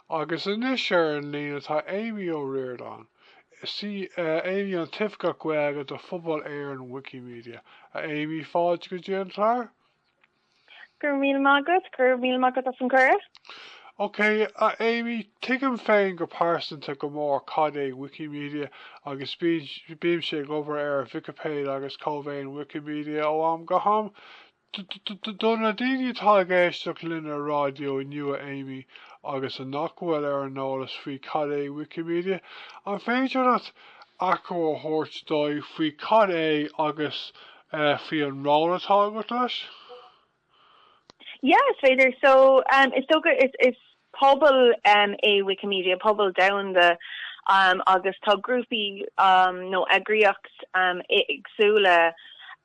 Agus anois ar an líne tá Amy Ó Riordáin. Is í Amy an tOifigeach Gaeilge do Phobal Éireann Wikimedia. A Amy, fáilte go dtí an clár. Go raibh míle maith agat. Go raibh míle maith agat as an cuireadh. Ok, a Amy, tuigim féin go pearsanta go mór cad é Wikimedia agus bímse ag obair ar Vicipéid agus Cómhaoin Wikimedia ó am go ham. Do na daoine atá ag éisteacht linn ar raidió inniu a Amy agus a nach bhfuil ar an eolas faoi cad é Wikimedia, an féidir leat achoimre a thabhairt dóibh faoi cad é agus faoi an ról atá agat leis? Yeah is féidir. So is dócha is Pobal é Wikimedia, pobal domhanda agus tá grúpaí nó eagraíocht éagsúla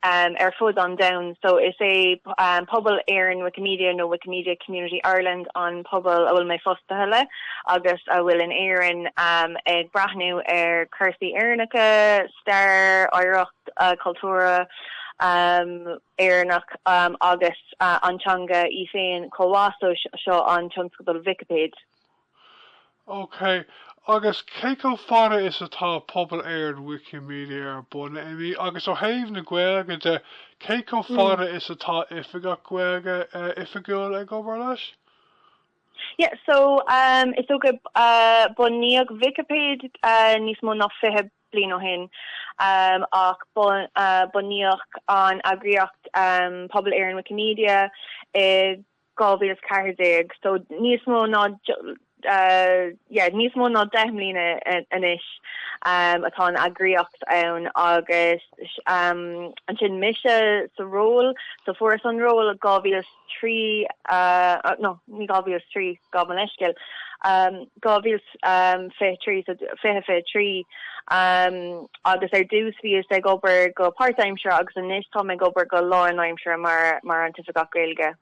ar fud an domhain. So is é pobal Éireann Wikimedia nó Wikimedia Community Ireland an pobal a bhfuil mé fostaithe le agus a bhfuil in Éirinn ag breathnú ar cúrsaí Éireannacha, stair, oidhreacht chultúrtha Éireannach agus an teanga í féin chomh maith so seo an tionscadal Vicipéid. OK. Agus cé chomh fada is atá pobal Éireann Wikimedia ar bun, a Amy? Agus ó thaobh na Gaeilge de, cé chomh fada is atá Oifigeach Gaeilge oifigiúil ag obair leis? Yeah, so is dócha bunaíodh Vicipéid níos mó ná fiche bliain ó shin, ach bunaíodh an eagraíocht Pobal Éireann Wikimedia i 2014, so níos mó yeah níos mó ná deich mbliana anois atá an eagraíocht ann agus ansin mise sa ról, so fuaireas an ról i dhá mhíle is trí nó ní dhá mhíle is trí, gabh mo leithscéal, dhá mhíle 's fiche trí so fiche fiche trí agus ar dtús bhíos ag obair go páirtaimseartha agus anois táim ag obair go lánaimseartha mar, mar an tOifigeach Gaeilge.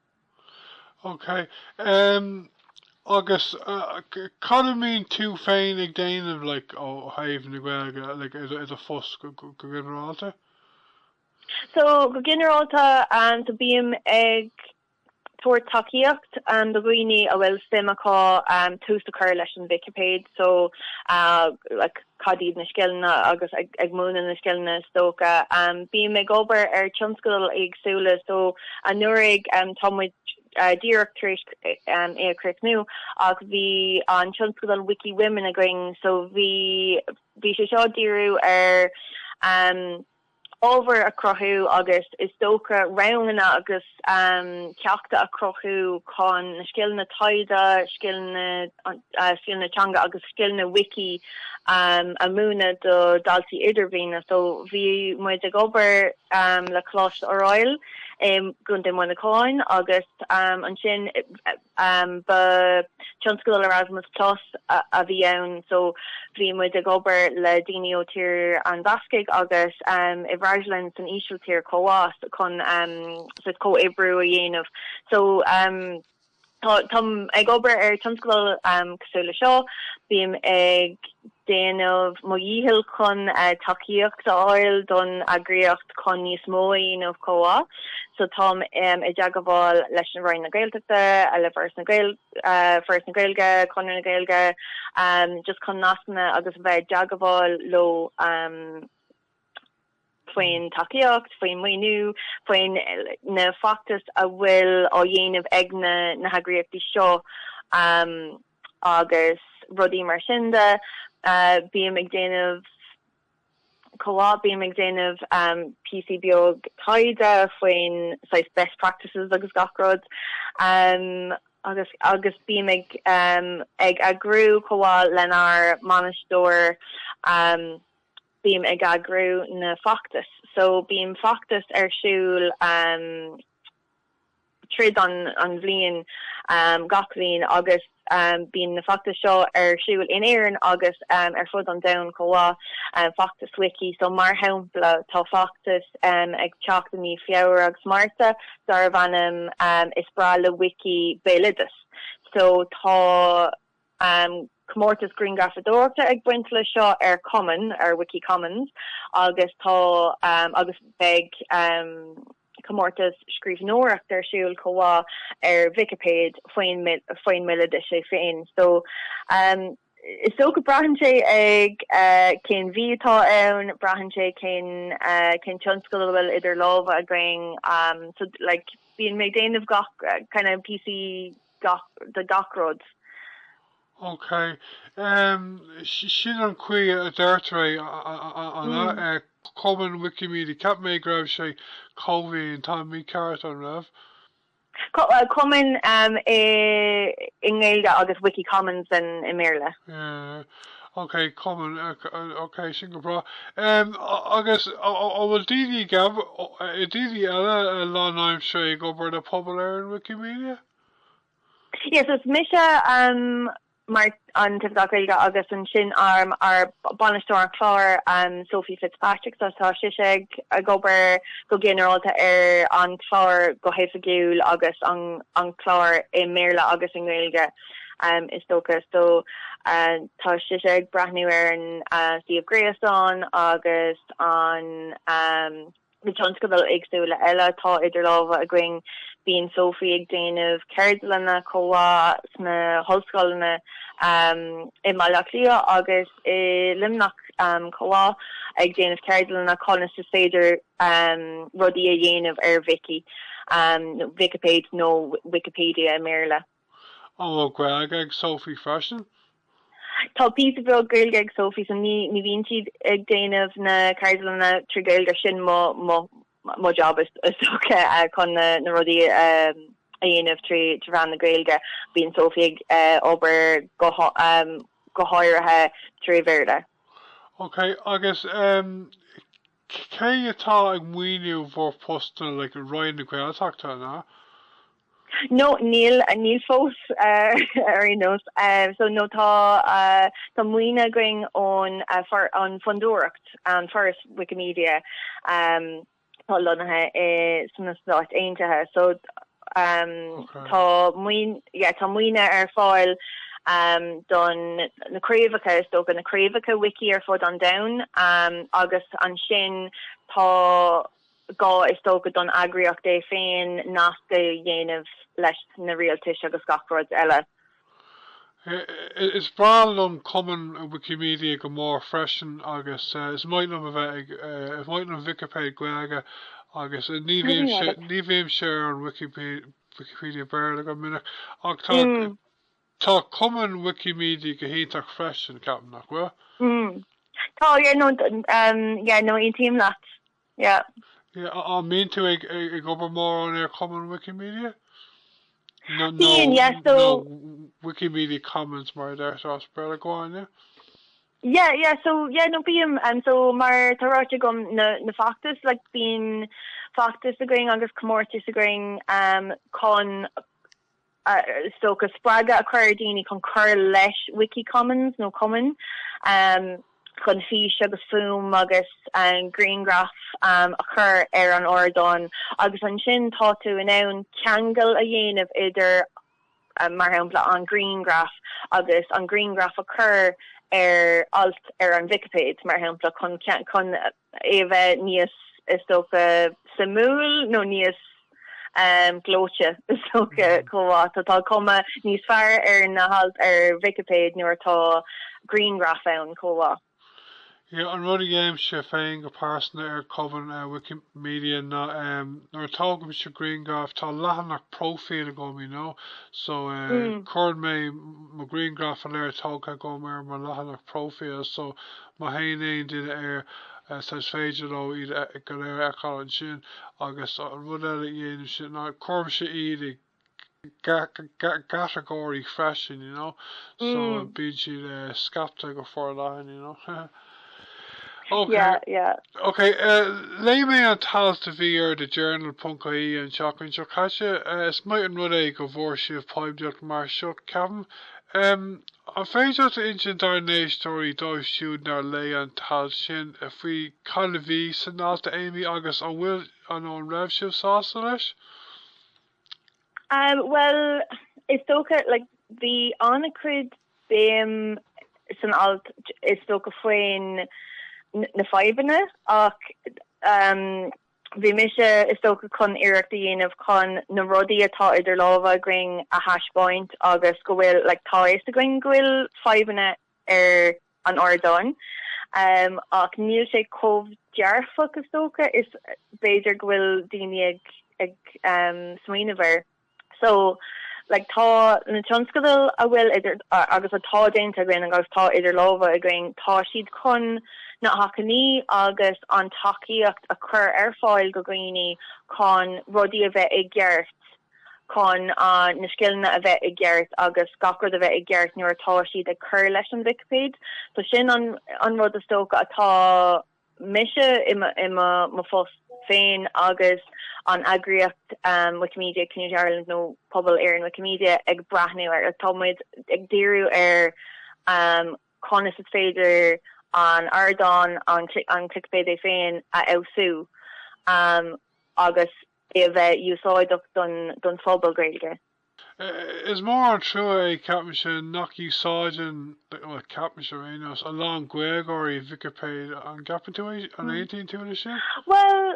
Ok, agus cad a mbíonn tú féin ag déanamh like ó thaobh na Gaeilge like i do phost go ginearálta? So, go ginearálta, so bím ag tabhairt tacaíocht do dhaoine a bhfuil suim acu tús a chur leis an Vicipéid, so like cad iad na scileanna agus ag múineadh na scileanna is dócha. Bím ag obair ar tionscadail éagsúla so anuraidh tá muid díreach tar éis é a chríochnú ach bhí an tionscadal Wiki Women againn so bhí bhí sé seo ag díriú ar ábhar a chruthú agus is dócha ranganna agus ceachta a chruthú chun na scileanna taighde, scileanna teanga agus scileanna Wiki a mhúineadh do dhaltaí idirbhliana. So bhí muid ag obair le Coláiste Oiriall i gContae Muineacháin agus ansin, Ba tionscadal Erasmus plus a bhí ann so bhí muid ag obair le daoine ó Tír na mBascaigh agus i bhFreaslainn san Ísiltír chomh mhaith chun sórt comhoibriú a dhéanamh so táim ag obair ar tionscadal cosúil le seo bím ag déanamh mo dhícheall chun tacaíocht a fháil don eagraíocht chun níos mó a dhéanamh chomh mhaith so táim i dteagmháil leis an Roinn na Gaeltachta le Foras na Gaeilge, Conradh na Gaeilge just chun nascanna agus bheith i dteagmháil leo faoin tacaíocht, faoin maoiniú, faoin na feachtais a bhfuil á dhéanamh ag na heagraíochtaí seo. agus rudaí mar sin de. Bím ag déanamh, chomh mhaith, bím ag déanamh píosaí beag taighde faoin saghas best practices agus gach rud. Agus, agus bím ag ag eagrú, chomh mhaith lenár mbainisteoir, bím ag eagrú na feachtais. So, bíonn feachtais ar siúl tríd an bhliain gach bhliain agus bíonn na feachtais seo ar siúl in Éirinn agus ar fud an domhain chomh mhaith, feachtas Wiki so mar shampla tá feachtas ag teacht i mí Feabhra agus Márta darbh ainm Is Breá le Wiki Béaloideas so tá comórtas grianghrafadóireachta ag baint le seo ar cumann, ar Wiki Commons agus tá agus beidh. comórtas scríbhneoireacht ar siúl chomh mhaith ar Vicipéid faoin mbéaloideas é féin so is dócha braitheann sé ag cén mhí atá ann, braitheann sé cén tionscadal a bhfuil idir lámha againn so like bíonn mé ag déanamh gach kind of píosaí de gach rud. OK, em, si- sin an chaoi a deirtear é, a- a- a- a- an ea? Eh, Cumann Wikimedia, ceap mé go raibh sé cómhaoin, táim mícheart, an raibh? Co- uh, Cumann um, i, i nGaeilge agus Wiki Commons in, i mBéarla. Yeah. Ok, cumann, eh, c- eh, ok, sin go breá. Em, a- agus, a- a- an bhfuil daoine ag ab, i daoine eile a lánaimseartha ag obair le Pobal Éireann Wikimedia? Yes, is mise um mar an tOifigeach Gaeilge agus ansin um ár bainisteoir cláir um Sophie Fitzpatrick so tá sise ag ag obair go ginearálta ar an chlár go hoifigiúil agus an an chlár i mBéarla agus i nGaeilge um is dócha so uh tá sise ag breathnú ar an uh suíomh gréasáin agus an um na tionscadail éagsúla eile atá idir lámha againn. Bíonn Sophie ag déanamh ceardlanna chomh maith sna hollscoileanna i mBaile Átha Cliath agus i Luimneach chomh maith, ag déanamh ceardlanna conas is féidir rudaí a dhéanamh ar Vicí, nó Vicipéid nó Wikipedia i mBéarla. An bhfuil Gaeilge ag Sophie freisin? Tá píosa beag Gaeilge ag Sophie so ní bhíonn sí ag déanamh na ceardlanna trí Ghaeilge, sin mo job is dócha chun na rudaí a dhéanamh trí mheán na Gaeilge. Bíonn Sophie ag obair go háirithe trí Bhéarla. Ok, agus Cé atá ag maoiniú bhur postanna like Roinn na Gaeltachta an ea? No níl, níl fós ar aon nós. So no tá tá maoiniú againn ón an Fondúireacht an Foras Wikimedia atá lonnaithe i sna Stáit Aontaithe so Tá maoiniú ar fáil don na craobhacha, is dócha, na craobhacha Wiki ar fud an domhain agus ansin tá gá is dócha don eagraíocht é féin nasc a dhéanamh leis na rialtais agus gach rud eile. Is breá liom Cómhaoin Wikimedia go mór freisin agus is maith liom a bheith ag, is maith liom Vicipéid Gaeilge agus ní bhímse, ní bhímse ar an Wikipedia Béarla go minic ach tá, tá Cómhaoin Wikimedia go hiontach freisin, ceapaim, nach bhfuil? Tá, yeah, no, yeah, no, aontaím leat. Yeah. Yeah, an mbíonn tú ag ag obair mórán ar Chómhaoin Wikimedia? No, no, Bíonn, yeah, so. no, Wikimedia Commons mar a deirtear as Béarla. Go on, yeah. Yeah, yeah, so, yeah, no, bím, um, so mar tá ráite agam na, na feachtais, like, bíonn feachtais againn agus comórtais againn, um, chun, is dócha, spreagadh a chur ar dhaoine chun cur leis Wikicommons nó Cómhaoin chun fís agus fuaim agus grianghraif a chur ar an ardán agus ansin tá tú in ann ceangal a dhéanamh idir, mar shampla, an grianghraf agus an grianghraf a chur ar alt ar an Vicipéid, mar shampla, chun. é a bheith níos, is dócha, suimiúil nó níos gleoite, is dócha, chomh mhaith. Tá tá cuma níos fearr ar na hailt ar Vicipéid nuair atá grianghraif ann, chomh mhaith. Ie, an rud a dhéanaimse féin go pearsana ar Chómhaoin Wikimedia ná nuair a thógaimse grianghraif tá leathanach próifíl agam, you know, so cuirim mo ghrianghraif go léir tógtha agam ar mo leathanach próifíl so Má théann aon duine air so is féidir leo iad go léir a fheiceáil ansin agus an rud eile a dhéanaimse ná cuirimse iad i gcatagóirí freisin you know so Mm. bíonn siad eh, scaipthe go forleathan you know Ok, Yeah, yeah. ok, eh, léigh mé an t-alt a bhí ar the journal ponc ie an tseachtain seo caite, eh, is maith an rud é go bhfuair sibh poiblíocht mar seo, ceapaim. An féidir leat a insint dár n-éisteoirí, dóibh siúd nár léigh an t-alt sin, faoi cad a bhí san alt, a Amy, agus an bhfuil, nó an raibh sibh sásta leis? Bhuel, is dócha, like, bhí an-chuid béim san alt, is dócha, faoin, na fadhbanna ach, Bhí mise, is dócha, chun iarracht a dhéanamh chun na rudaí atá idir lámha againn a thaispeáint agus go bhfuil, like, tá a fhios againn go bhfuil fadhbanna ar an ardán ach níl sé chomh dearfach, is dócha, is b'fhéidir go bhfuil daoine ag smaoineamh air. So, like, tá na tionscadail a bhfuil idir, agus atá déanta againn agus atá idir lámha againn, tá siad chun na hacmhainní agus an tacaíocht a chur ar fáil do dhaoine chun rudaí a bheith i gceart, chun na scileanna a bheith i gceart agus gach rud a bheith i gceart nuair atá siad ag cur leis an Vicipéid. So sin an rud is dócha atá. mise i mo phost féin agus an eagraíocht Wikimedia Community Ireland nó Pobal Éireann Wikimedia ag breathnú ar, tá muid ag díriú ar conas is féidir an ardán, an Vicipéid é féin a fheabhsú agus é a bheith úsáideach don phobal Gaeilge. Is mór an trua é ceapaimse nach úsáideann, bhuel, ceapaimse ar aon nós, a lán Gaeilgeoirí Vicipéid, an gceapann tú é, an aontaíonn tú leis sin? Bhuel,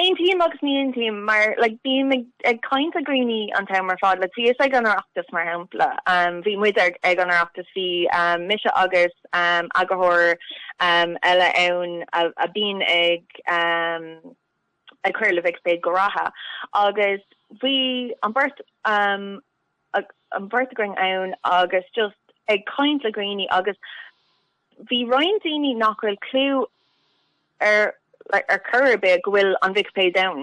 aontaím agus ní aontaím mar like bím ag ag caint le dhaoine an t-am ar fad, like thíos ag an Oireachtas mar shampla, bhí muid ag an Oireachtas, bhí mise agus eagarthóir eile ann a bhíonn ag, ag cur le Vicipéid go rialta agus bhí an beirt an bheirt againn ann agus just ag caint le daoine agus bhí roinnt daoine nach bhfuil clú ar like ar chor ar bith go bhfuil an Vicipéid ann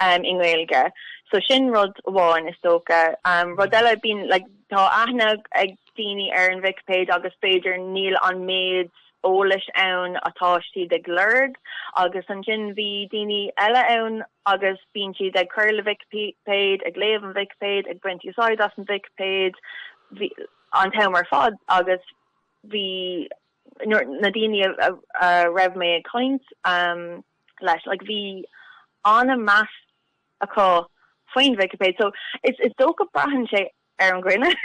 um i nGaeilge so sin rud amháin is dócha um rud eile bíonn like tá aithne ag daoine ar an Vicipéid agus b'fhéidir níl an méid eolais ann atá siad ag lorg agus ansin bhí daoine eile ann agus bíonn siad ag cur le Vicipéid, ag léamh an Vicipéid, ag baint úsáid as an Vicipéid an t-am ar fad agus bhí na daoine a raibh mé ag caint leo like bhí an-mheas acu faoin Vicipéid so is dócha braitheann sé ar an duine.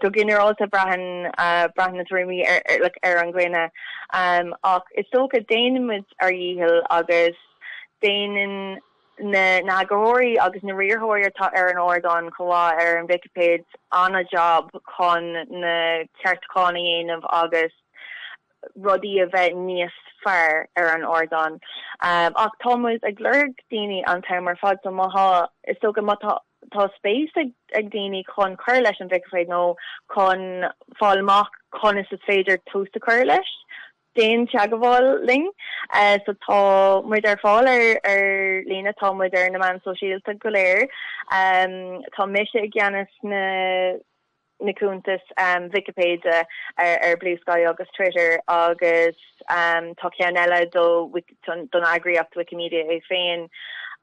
Go ginearálta braitheann na tuairimí ar an duine ach is dócha déanaimid ár ndícheall agus déanann na heagarthóirí agus na riarthóirí atá ar an ardán chomh mhaith ar an Vicipéid an-jab chun na ceartúcháin a dhéanamh agus rudaí a bheith níos fearr ar an ardán ach tá muid ag lorg daoine an t-am ar fad so má tá, is dócha má tá, tá spéis ag daoine chun cur leis an Vicipéid nó chun fáil amach conas is féidir tús a chur leis, déan teagmháil linn. So tá muid ar fáil ar ar líne, tá muid ar na meáin shóisialta go léir. Tá mise i gceannas na. na cuntais Vicipéide ar Bluesky agus Twitter agus tá ceann eile don eagraíocht Wikimedia é féin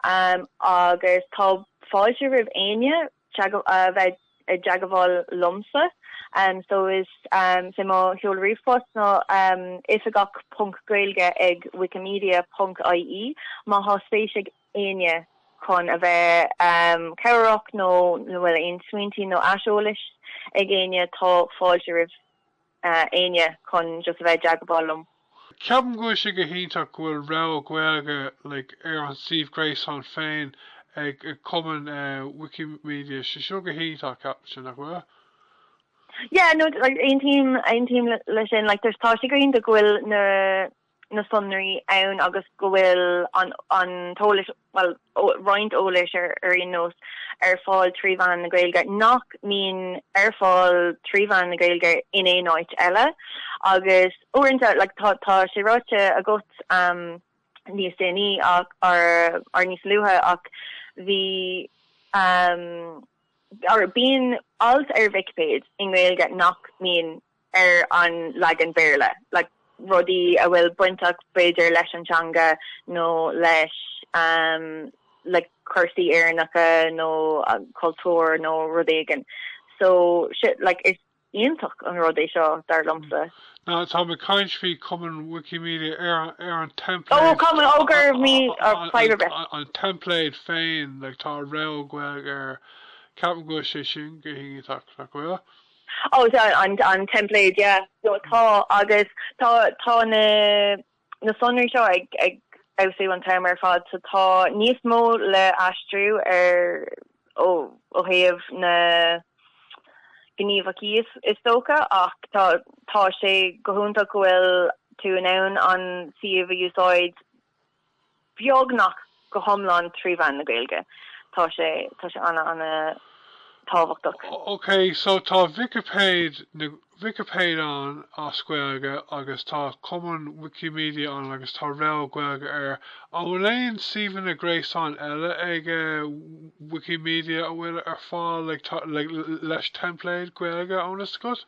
agus tá fáilte roimh éinne a bheith i dteagmháil liomsa so is é mo sheoladh ríomhphost ná oifigeach ponc gaeilge ag wikimedia ponc ie má thá spéis ag éinne chun a bheith cabhrach nó an bhfuil aon smaointe nó aiseolas ag éinne tá fáilte roimh éinne chun just a bheith i dteagmháil liom. Ceapaim go bhfuil sé go hiontach go bhfuil rogha Gaeilge like ar an suíomh gréasáin féin ag cumann Wikimedia. Sé seo go hiontach, ceapaimse, nach bhfuil? Yeah, no, like aontaím, aontaím leis sin like tá sé go hiontach go bhfuil na. na sonraí ann agus go bhfuil an an t-eolas, bhuel, roinnt eolais ar aon nós, ar fáil trí mheán na Gaeilge nach mbíonn ar fáil trí mheán na Gaeilge in aon áit eile. Agus uaireanta, like, tá tá sé ráite agat níos déanaí ach or or níos luaithe ach bhí or bíonn alt ar Vicipéid i nGaeilge nach mbíonn. ar an leagan Béarla, like rudaí a bhfuil baint acu b'fhéidir leis an teanga nó leis like cúrsaí Éireannacha nó cultúr nó rud éigin so shit like is iontach an rud é seo dar liomsa. Now tá mé ag caint faoi Cumann Wikimedia ar an template an template féin like tá rogha Gaeilge air ceapaim go bhfuil sé sin go hiontach nach bhfuil? Ó sea, an teimpléad, yeah. So tá agus tá tá na na sonraí seo ag ag feabhsú an t-am ar fad so tá níos mó le aistriú ar ó ó thaobh na gníomhachaí is is dócha ach tá tá sé go hiontach go bhfuil tú in ann an suíomh a úsáid beagnach go hiomlán trí mheán na Gaeilge. Tá sé, tá sé ana, ana tábhachtach. OK, so tá Vicipéid na, Vicipéid ann as Gaeilge agus tá Cumann Wikimedia ann agus tá rogha Gaeilge air. An bhfuil aon suíomhanna gréasáin eile ag Wikimedia a bhfuil ar fáil, like, tá, like, leis teimpléad Gaeilge i bhfios agat?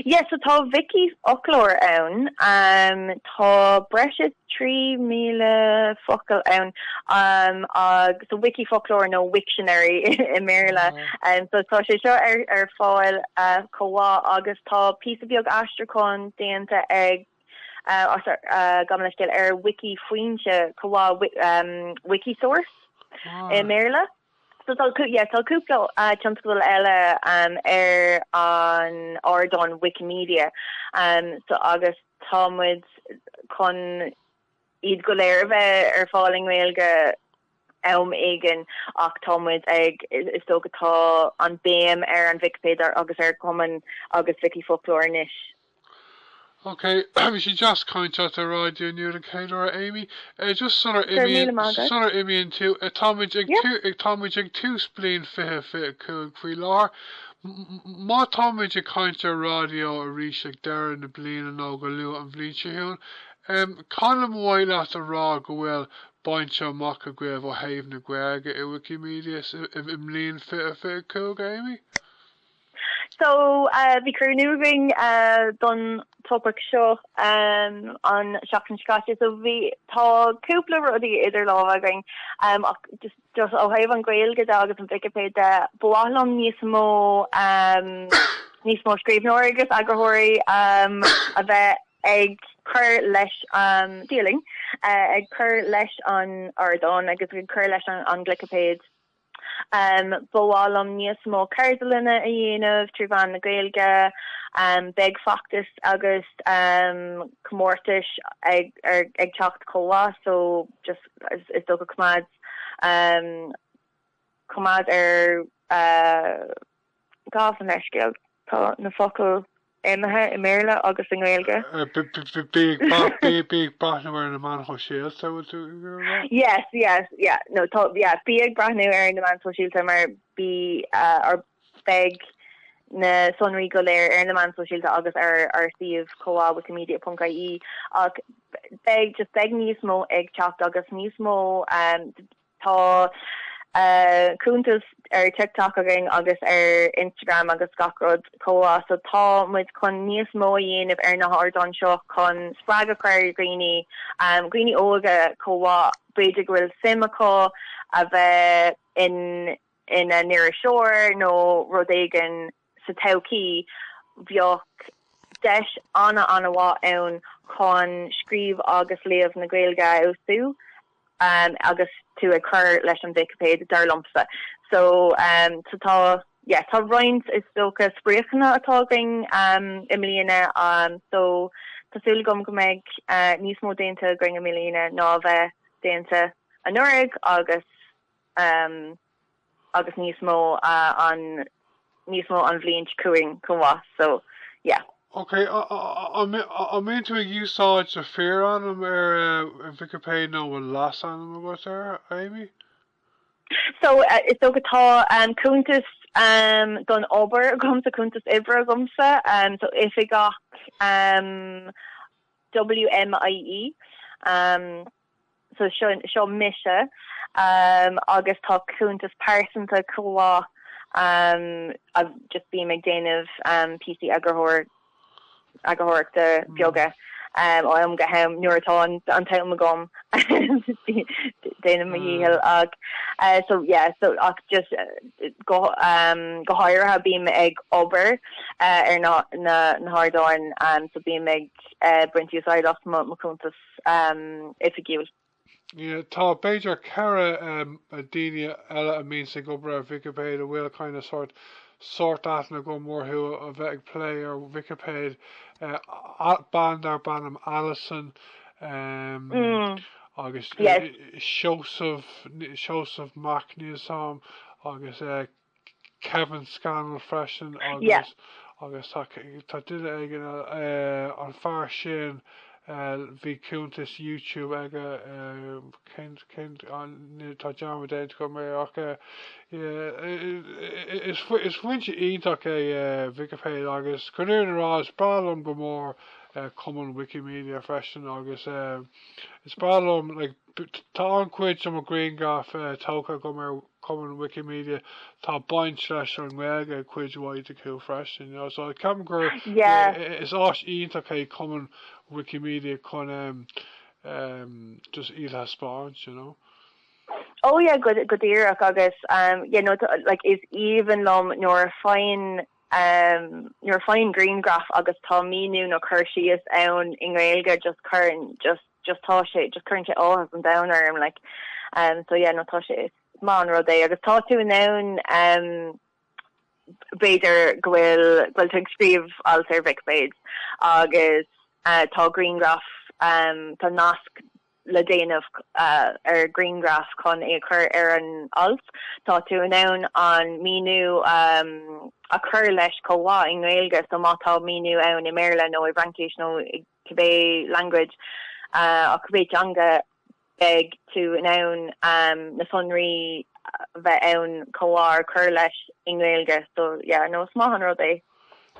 Yes so tá Wiki foclóir ann ehm tá breis is trí míle focal ann ehm agus so Wiki foclóir nó Wiktionary i mBéarla ehm so tá sé seo ar ar fáil eh chomh maith agus tá píosa beag aistriúcháin déanta ag eh as ar eh gabh mo leithscéal ar Wiki foinse chomh maith wi ehm Wikisource i mBéarla. So tá yeah tá cúpla tionscadal eile ar an ardán Wikimedia so agus tá muid chun iad go léir a bheith ar fáil i nGaeilge am éigin ach tá muid ag is dócha tá an béim ar an Vicipéid agus ar Cumann agus Vicífhoclóir anois. OK, bhí sé deas caint leat ar ráidió inniu den chéad uair a Amy. Just sular Go raibh imíonn, míle maith agat. sular imíonn tú, eh, táimid ag Yep. tú, táimid ag tús bliain fiche fiche a cúig faoi láthair. M- m- m- má táimid ag caint ar ráidió arís ag deireadh na bliana nó go luath an bhliain seo chugainn, em, cad ba mhaith leat a rá go bhfuil bainte amach agaibh ó thaobh na Gaeilge i Wikimedia sa, i, i mbliain fiche fiche a cúig, a Amy? So, bhí cruinniú againn don topaic seo an seachtain seo caite so bhí, tá cúpla rudaí idir lámha againn ach just ó thaobh an Ghaeilge de agus an Vicipéid de, ba mhaith liom níos mó níos mó scríbhneoirí agus eagarthóirí a bheith ag cur leis an díolaim, ag cur leis an ardán agus ag cur leis an Vicipéid. Ba mhaith liom níos mó ceardlainne a dhéanamh trí mheán na Gaeilge. Beidh feachtais agus comórtais ag teacht chomh mhaith so just is dócha coimeád coimeád ar gabh mo leithscéal. Tá na focail imithe i mBéarla agus i nGaeilge. Bí ag breathnú ar na meáin shóisialta, bhfuil tú ag iarraidh a rá? Yes, yes, yeah, no, tá, yeah, bí ag breathnú ar na meáin shóisialta mar beidh ár, beidh na sonraí go léir ar na meáin shóisialta agus ar ár suíomh chomh maith, wikimedia ponc ie, ach beidh, just beidh níos mó ag teacht agus níos mó. Tá cúntas ar TikTok againn agus ar Instagram agus gach rud chomh mhaith so tá muid chun níos mó a dhéanamh ar na hardáin seo chun spreagadh a chur ar dhaoine, dhaoine óga chomh mhaith b'fhéidir go bhfuil suim acu a bheith ina ina n-iriseoir nó rud éigin. sa todhchaí bheadh deis an-an-mhaith ann chun scríobh agus léamh na Gaeilge a fheabhsú agus tú ag cur leis an Vicipéid, dar liomsa. So, so tá, yeah, tá roinnt, is dócha, spriocanna atá againn i mbliana so tá súil agam go mbeidh níos mó déanta againn i mbliana ná a bhí déanta anuraidh agus, agus níos mó an níos mó an bhliain chugainn chomh maith so yeah. Ok, an mbíonn tú ag úsáid d'fhíorainm ar Vicipéid nó bhfuil leasainm agat air Amy? So, is dócha atá cuntas don obair agamsa, cuntas oibre agamsa, so Oifigeach WMIE. So sin, seo mise agus tá cuntas pearsanta chomh mhaith agus just bím ag déanamh píosaí eagarthóireachta beaga ó am go ham nuair atá an t-am agam, déanaim mo dhícheall ach so yeah, so ach just go háirithe bím ag obair ar na hardáin so bím ag baint úsáid as mo chuntas. oifigiúil. Tá b'fhéidir ceithre dhuine eile a mbíonns ag obair ar Vicipéid a bhfuil kind of sórt sórt aithne agam orthu a bheith ag plé ar Vicipéid, bean darb ainm Alison agus Seosamh, Seosamh Mac, níl a fhios agam, agus eh. Kevin Scannell freisin agus agus tá tá duine éigin an fear sin bhí cuntas YouTube aige cén cén tá dearmad déanta agam ach is is foinse iontach é Vicipéid agus chun a rá is breá liom go mór Cómhaoin Wikimedia freisin agus is breá liom like Tá an-chuid de mo ghrianghraif tógtha agam ar Chómhaoin Wikimedia. Tá baint leis an nGaeilge ag cuid mhaith acu freisin. Ceapaim gur Yeah. is áis iontach é Cómhaoin Wikimedia chun just iad a thaispeáint, you know. Oh yeah, go díreach agus yeah, no, like is aoibhinn liom nuair a faigheann. Am nuair a fhaighim grianghraf agus tá míniú nó cur síos ann i nGaeilge just cuireann just just tá sé just cuireann sé áthas an domhain orm like am so yeah no tá sé is maith an rud é agus tá tú in ann am b'fhéidir go bhfuil go bhfuil tú ag scríobh alt ar Vicipéid agus tá grianghraf am tá nasc le déanamh ar ghrianghraf chun é a chur ar an alt. Tá tú in ann an míniú a chur leis chomh maith i nGaeilge so má tá míniú ann i mBéarla nó i bhFraincis nó i cibé language á cibé teanga beidh tú in ann na sonraí a bheith ann chomh maith a chur leis i nGaeilge so yeah no is maith an rud é.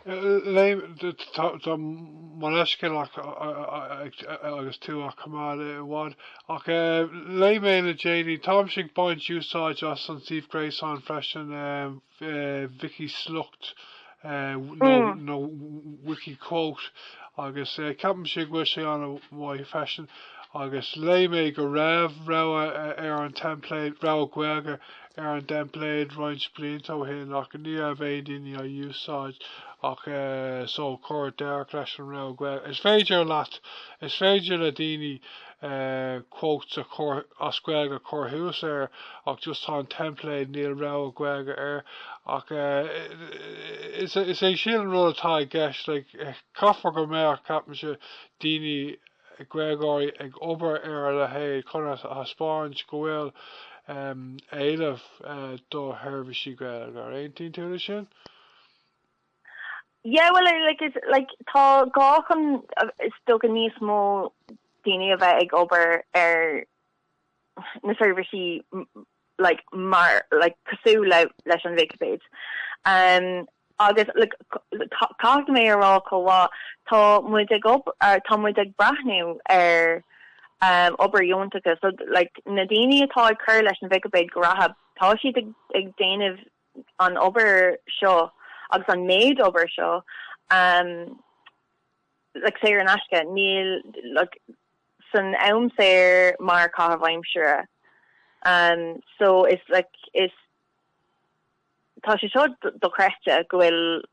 Gabh mo leithscéal agus tú á choimeád ach, ach léigh mé le déanaí, táimse ag baint úsáid as an suíomh gréasáin freisin, Wiki-Sliocht nó Mm. nó Wiki-Quote agus ceapaimse go bhfuil sé ana mhaith freisin agus léigh mé go raibh rogha ar an template, rogha Gaeilge ar an dteimpléad roinnt blianta ó shin ach ní raibh aon duine á úsáid ach so cuireadh deireadh leis an rogha Gaeilge. Is féidir leat, is féidir le daoine quotes as Gaeilge a chur thuas air ach just tá an teimpléad níl rogha Gaeilge air ach is é sin an rud atá i gceist like caithfear go mbeadh ceapaimse daoine Gaeilgeoirí ag obair ar a leithéid chun a thaispeáint go bhfuil éileamh do sheirbhísí Gaeilge. An aontaíonn tú le sin? Yeah, well, like, is, like, tá gá chun, is dócha, níos mó daoine a bheith ag obair ar na seirbhísí like, mar, like, cosúil le, leis an Vicipéid. Um, Agus caithfidh mé a rá chomh mhaith, tá muid ag obair, tá muid ag breathnú ar obair dheonach. So like na daoine atá ag cur leis an Vicipéid go reatha, tá siad ag déanamh an obair seo agus an méid obair seo like saor in aisce. Níl like san am saor mar caitheamh aimsire. So is like is. Tá sé seo dochreidte, go bhfuil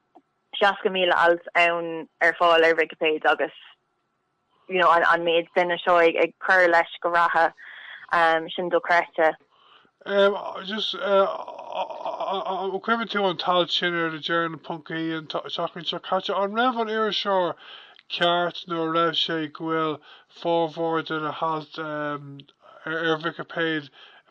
60,000 alt ann ar fáil ar Vicipéid agus you know an méid duine seo ag cur leis go reatha, sin dochreidte. Em, just eh, an cuimhin leat an t-alt sin ar The Journal ponc ie an tseachtain seo caite, an raibh an iriseoir ceart nuair a dúirt sé go bhfuil formhór de na hailt em ar Vicipéid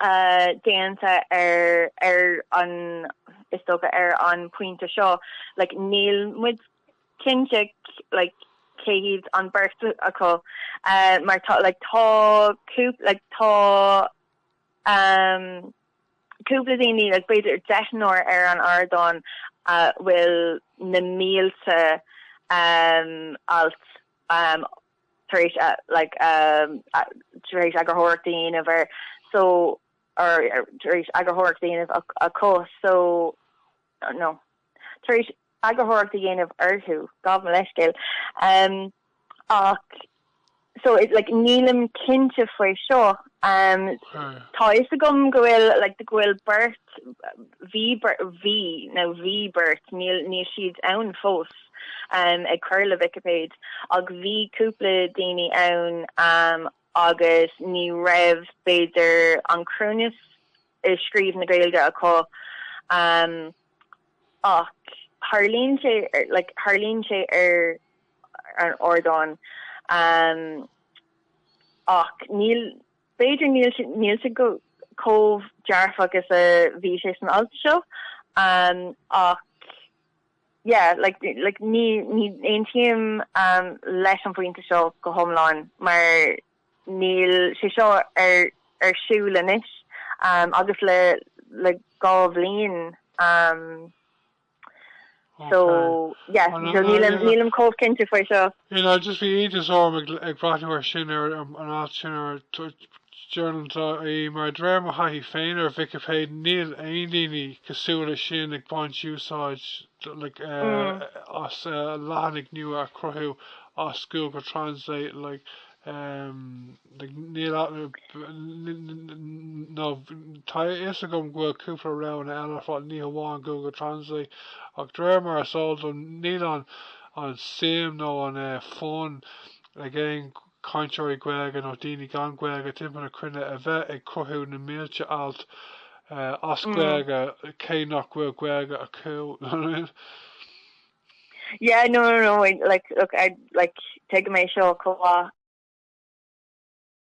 déanta ar ar an is dócha ar an pointe seo. Like níl muid cinnte like cé hiad an beirt acu mar tá like tá cúpla like tá cúpla daoine like b'fhéidir deichniúr ar an ardán a bhfuil na mílte alt tar éis a, like, a, tar éis eagarthóireacht a dhéanamh ar, so, or, tar éis eagarthóireacht a dhéanamh a, acu, so, no, tar éis eagarthóireacht a dhéanamh orthu, gabh mo leithscéal, um, ach, so, like, nílim cinnte faoi seo. Um tá a fhios agam go bhfuil like go bhfuil beirt bhí bhí nó bhí beirt níl níl siad ann fós um ag cur le Vicipéid ach bhí cúpla daoine ann um agus ní raibh b'fhéidir an cruinneas i scríobh na Gaeilge acu um ach tarlaíonn sé like tarlaíonn sé ar an ardán um. Ach níl, b'fhéidir níl sé, níl sé go, comh dearfach is a bhí sé san alt seo. Ach yeah, like, like ní, ní aontaím leis an bpointe seo go hiomlán mar níl sé seo ar, ar siúl anois agus le, le dhá bhliain. So, yeah, nílim chomh cinnte faoi seo. You know, just bhí iontas orm ag breathnú ar sin, ar an alt sin, ar Journal.ie, mar de réir mo thaithí féin ar Vicipéid, níl aon daoine cosúil leis sin ag baint úsáid as leathanaigh nua a chruthú as Google Translate, like. Níl a- n- n- n- n- no, tá a fhios agam go bhfuil cúpla rud eile fá ní hamháin Google Translate ach de réir mar is eol dom níl an an suim nó an eh, fonn ag aon cainteoirí Gaeilge nó daoine gan Gaeilge timpeall na cruinne a bheith ag cruthú na mílte alt eh, as Mm. Gaeilge cé nach bhfuil Gaeilge acu. Yeah, no, no, no, like, look, I, like, tuigim é seo chomh maith.